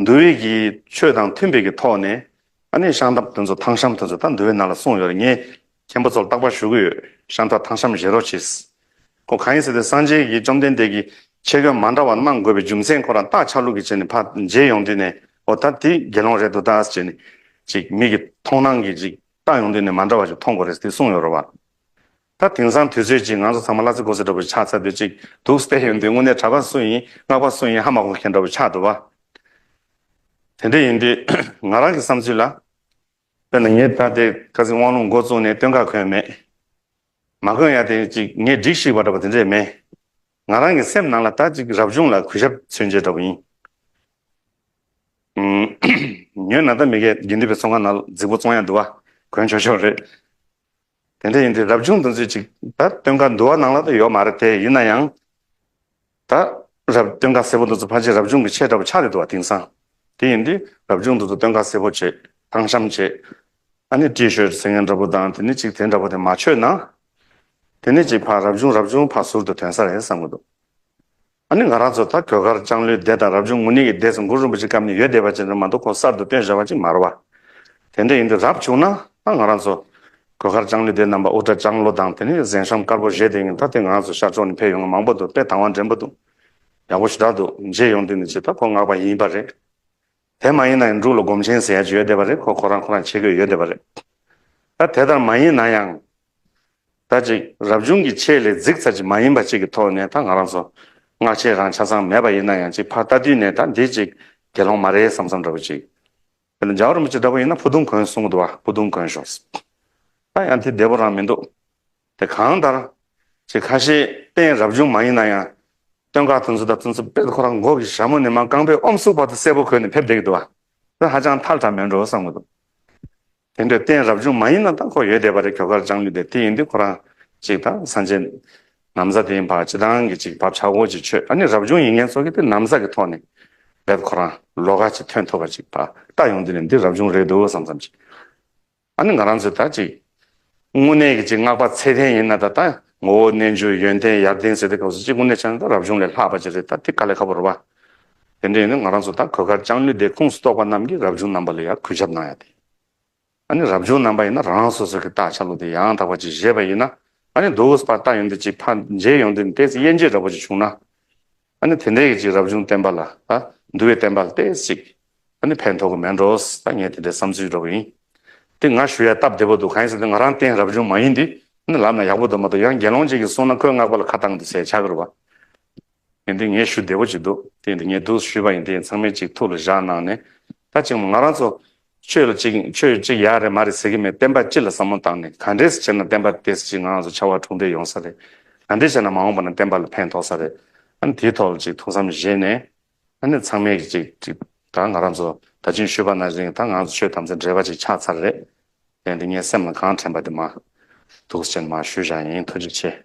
འདུལ་བའི་གི་ཆོས་དང་མཐུན་པའི་གི་ཐོག་ནས་ཨ་ནེ་ཤང་ཐབ་དོན་ཚོ་ཐང་ཤམ་དོན་ཚོ་ད་འདུལ་བའི་ནང་ལ་སོང་ཡོད་རེད་ངས་མཁན་པོ་ཚོར་རྟག་པར་ཞུ་གི་ཡོད་ཤང་ཐབ་ཐང་ཤམ་བཞེས་རོགས་བྱེད། ཁོ་གང་ཡིན་ཟེར་ཏེ་སངས་རྒྱས་གི་བཅོམ་ལྡན་འདས་ཀྱི་ཆེ་བསྐྱོན་མ་འདྲ་བ་གནང་དགོས་པའི་རྒྱུ་མཚན་ཁོ་རང་རྟག་ཆགས་ལུགས་ཀྱི་བྱས་ནས་ཕ་མཇལ་ཡོང་དུས་ནས་ཨོ་ད་དེ་དགེ་སློང་རེད་འདུག་ད་ཟེར་ནས་ཅིག་མིག་གི་མཐོང་སྣང་གིས་ཅིག་ལྟ་ཡོང་དུས་ནས་མ་འདྲ་བ་ཞིག་མཐོང་དགོས་རེད་ཟེར་ཏེ་གསུངས་ཡོད་རོགས་པ། ད་དེང་སང་དུས་ཚོད་ཀྱིས་ང་ཚོ་ཚང་མ་གླ་རྩི་གོ་ཟེར་འདྲ་བོ་ཆགས་ཚར་དུས་གཅིག་འདུག་སྟེ་ཡོད་འདི་དངོས་གནས་གྲྭ་པ་སུ་ཡིན་སྔགས་པ་སུ་ཡིན་ཧ་མ་གོ་མཁན་འདྲ་བོ་ཆགས་འདུག་བ། དེ་འདྲ་ཡིན་དུས་ང་རང་གི་བསམ་ཚུལ་ལ། དཔེར་ན་ངས་ད་ལྟའི་སྐར་རྩིས་དབང་ལུང་མགོ་བཙུགས་ནས་སྟོན་ཁ་གོན་མེད། མ་གོན་ཡང་དེ་གཅིག་ངས་སྒྲིག་ཞིག་པ་འདྲ་བོ་དེ་འདྲས་མེད། ང་རང་གི་སེམས་ནང་ལ་ད་གཅིག་རབ་བྱུང་ལ་གུས་ཞབས་མཚོན་བྱེད་འདྲ་བོ་ཡིན། ཉོན་ན་ད་མི་གའི་དགེ་འདུན་པའི་ཚོགས་ཁང་ན་རྫིག་པོ་བཙོང་ཡ་འདུག་བ་གོན་ཆོག་ཆོག་རེད། དེ་འདྲ་ཡིན་དུས་རབ་བྱུང་དུ་མཛོད་ཅིག་ད་སྟོན་ཁ་འདུལ་བ་ནང་ལ་དུ་ཡོད་མ་རེད་དེ་ཡིན་ན་ཡང། ད་རབ་སྟོན་ཁ་སེར་པོ་འདུག་ཚུལ་ཕ་ཆེ་རབ་བྱུང་གི་ཆེ་དགྲ་བོ་ཆགས་རེད་འདུག་བ་དིང་སང་དེ་ཡིན་དུས་རབ་བྱུང་འདུག་ཚུལ་སྟོན་ཁ་སེར་པོ་བྱེད་ཐང་ཤམ་བྱེད་ཨ་ནི་ཏྲི་ཤོད་ཟེར་མཁན་འདྲ་པོ་དང་དེ་ནི་ཅིག་དེ་འདྲ་པོ་དེ་མ་ཆོད་ན་དེ་ནི་ཅིག་ཕ་རབ་བྱུང་རབ་བྱུང་ཕ་ཟུར་དུ་དོན་ས་རེད་བསམ་གི་འདུག་ཨ་ནི་ང་རང་ཚོ་ད་གོས་དཀར་ལྕང་ལོའི་སྡེ་དང་རབ་བྱུང་ངུ་ནི་གི་སྡེ་སུ་འགུ་རུ་འབུ་ཅི་སྐམ་ནི་ཡོད་སྡེ་བ་ཅི་འདྲ་མ་འདུག་ཁོང་གསར་དུ་བཏོན་བཞག་པ་ཅིག་མ་རུ་བ། དེ་འདྲ་ཡིན་དུས་རབ་བྱུང་ན་ད་ང་རང་ཚོ། གོས་དཀར་ལྕང་ལོའི་སྡེ་རྣམ་པ་དབུ་སྐྲ་ལྕང་ལོ་དང་དེ་ནི་གཟན་ཤམ་དཀར་པོ་བཞེས་དེ་ཡིན་ད་དེ་ང་ཚོ་ཤར་ཕྱོགས་ནི་ཕེབས་ཡོང་ང་མང་པོ་འདུག་དཔེ་དང་བ་འདྲེན་པོ་འདུག། ཡག་པོ་ཞུ་དྲག་འདུག་མཇལ་ཡོང་དུས་ནི་ཇི་ལྟར་ཁོ་མངགས་པ་ཡིན་པ་རེད། དེ་མ་ཡིན་ན་ཡང་འབྲུག་ལ་སྒོམ་ཆེན་ཟེར་ཡ་བྱོས་བསྡད་པ་རེད་ཁོ་ཁོ་རང་ཁོ་རང་ཆེ་གོས་ཡོད་བསྡད་པ་རེད། ད་དེ་ལྟར་མ་ཡིན་ན་ཡང། ད་ཅིག་རབ་བྱུང་གི་ཆེད་ལས་རྫིག་ཚར་ཅིག་མ་ཡིན་པ་ཅིག་གི་ཐོག་ནས་ད་ང་རང་ཚོ་སྔགས་ཆེན་རང་ཆ་ཚང་མེད་པ་ཡིན་ན་ཡང་ཅིག་ཕར་ལྟ་དུས་ནས་ད་འདི་ཅིག་དགེ་སློང་མ་རེད་བསམ་བསམ་འདྲ་བོ་ཅིག་ཡོད་ན་འཇའ་འོར་མོ་ཅིག་འདྲ་བོ་ཡིན་ན་ཕུ་དུང་གོན་གསུང་གི་འདུག་ཨ་ཕུ་དུང་གོན་ཞོགས། ད་ཡང་དེ་བདེ་བོ་རང་མི་འདུག། དེ་གང་ལྟར། ཆེས་ཁ་ཤས་གཏན་རབས་ཅུང་མ་ཡིན་ན་ཡང། སྟོན་ཁ་ཐུན་ཚོད་ལྟ་ཐུན་ཚོད་དཔེ་དེ་ཁོ་རང་མགོ་གི་ཞྭ་མོ་ནི་མ་རྐང་པའི་ཨོམ་སུག་བར་དུ་གསལ་པོ་གོན་ནས་ཕེབས་འདེགས་འདུག་ཨ། ཁོས་ཧ་ཅང་ཐལ་དྲགས་མོད་འགྲོ་བསམ་གྱི་འདུག། དེ་འདྲའི་གཏན་རབས་ཅུང་མ་ཡིན་ན་ད་ཁོ་ཡོད་བསྡད་པ་རེད་གྱོ་གར་སྦྱངས་ནུས་བསྡད་དེ་ཡིན་དུས་ཁོ་རང་ཅིག་ད་ས་འཇེ། ནམ་ཟ་དེའི་བར་ཅི་ཐང་གི་ཅིག་བབ་ཆག་སྒོ་ཅིག་ཆོད་ཨ་ནི་རབ་བྱུང་ཡིན་མཁན་ཚོ་གི་དེ་ནམ་ཟ་གི་ཐོག་ནས་རྦད་ཁོ་རང་ལོ་ག་ཅིག་ཐོན་ཐུབ་པ་ཅིག་བ་ལྟ་ཡོང་དུས་ནས་འདི་རབ་བྱུང་རེད་འདུག་བསམ་བསམ་ཅིག། ཨ་ནི་ང་རང་ཚོས་ད་ཅིག་དངོས་གནས་ཀྱི་ཅིག་བསྔགས་པ་ཚད་ལྡན་ཡིན་ན་ད་ད་ངོ་བོ་རྣལ་འབྱོར་ཡོན་ཏན་ཡར་ལྡན་ཟེར་ཏེ་སྐབས་སུ་ཅིག་དངོས་གནས་ཆ་ནས་ད་རབ་བྱུང་ལས་ལྷག་པ་ཅིག་རེད་ད་དེ་དཀའ་ལས་ཁ་པོ་རུ་བ། དེ་འདྲ་ཡིན་ན་ང་རང་ཚོ་ད་གོས་དཀར་ལྕང་ལོའི་སྡེ་ཁུངས་སུ་གཏོགས་པ་རྣམས་ཀྱིས་རབ་བྱུང་རྣམ་པ་ལ་ཡར་གུས་ཞབས་གནང་ཡ་དེ། ཨ་ནི་རབ་བྱུང་རྣམ་པ་ཡིན་ན་རང་སོ་སོ་གྱི་རྟགས་ཆ་ལུགས་དེ་ཡང་དག་པ་ཅིག་བཞེས་པ་ཡིན་ན་ཨ་ནི་དུས་བབས་སུ་པར་རྟགས་ཡོང་དུས་ཅིག་ཕར་འཇལ་ཡོང་དུས་ནས་དེ་ཚེ་དབྱེ་འབྱེད་འདྲ་པོ་ཅིག་བྱུང་ན། ཨ་ནི་དེ་འདྲའི་ཡིད་ཀྱི་རབ་བྱུང་བསྟན་པ་ལ། འདུལ་བའི་བསྟན་པ་ལྟས་གཅིག། ཨ་ནི་ཕན་ཐོགས་མེད་འགྲོ། ཨ་ངས་དེ་འདྲའི་བསམ་ཚུལ་འགྲོ་གི་ཡིན། དེ་ང་ཞུ་ཡ་སྟབས་བདེ་པོ་འདུག་གང་ཡིན་ཟེར་དུས་ང་རང་བསྟན་རབ་བྱུང་མ་ཡིན་དུས། ཨ་ནི་ལབ་ན་ཡག་པོ་འདུག་མ་གཏོགས་ཡང་དགེ་སློང་གཅིག་གིས་གསུངས་ན་ཁོས་བསྔགས་པ་ལ་ཁ་བཏང་དུས་ཟད་ཆགས་ཀྱི་རུ་བ། ཡིན་དུས་ངས་ཞུ་བདེ་པོ་གཅིག་འདུག་དེ་ཡིན་དུས་ངས་དུ་ཞུས་པ་ཡིན་དེ་ཡིན་ཚང་མས་གཅིག་ཐུགས་ལ་བཞག་གནང་ནས། ད་ཅིག་མ་ང་རང་ཚོ། ཁྱོད་ལ་ཅིག་ཁྱོད་ཅིག་ཡག་རེད་མ་རེད་ཟེར་གི་མེད་བསྟན་པ་སྤྱི་ལ་བསམ་བློ་བཏང་ནས་ག་འདྲེས་བྱས་ན་བསྟན་པ་དེ་སྤྱི་ངང་སུ་ཆ་བ་དྲུག་འདྲེས་ཡོང་ས་རེད་ག་འདྲེས་བྱས་ན་མ་འོངས་པ་ན་བསྟན་པ་ལ་ཕན་ཐོག་ས་རེད་ཨ་ནི་དེའི་ཐོག་ལ་ཅིག་ཐུགས་བསམ་བཞེས་ནས་ཨ་ནི་ཚང་མས་ཀྱི་ཅིག་ད་ང་རང་ཚོ་ད་ཅིང་ཤོད་པ་ན་རིང་ད་ང་ཚོ་ཆོས་དམ་ཚིག་འདྲེས་པ་ཅིག་ཆགས་ཚར་རེད་དེ་འདི་ངའི་སེམས་ལ་གང་དྲན་པ་དེ་མ་ཐུགས་རྗེ་ཆེ་ནས་མ་ཞུ་བཞག་ཡིན་ཐུགས་རྗེ་ཆེ།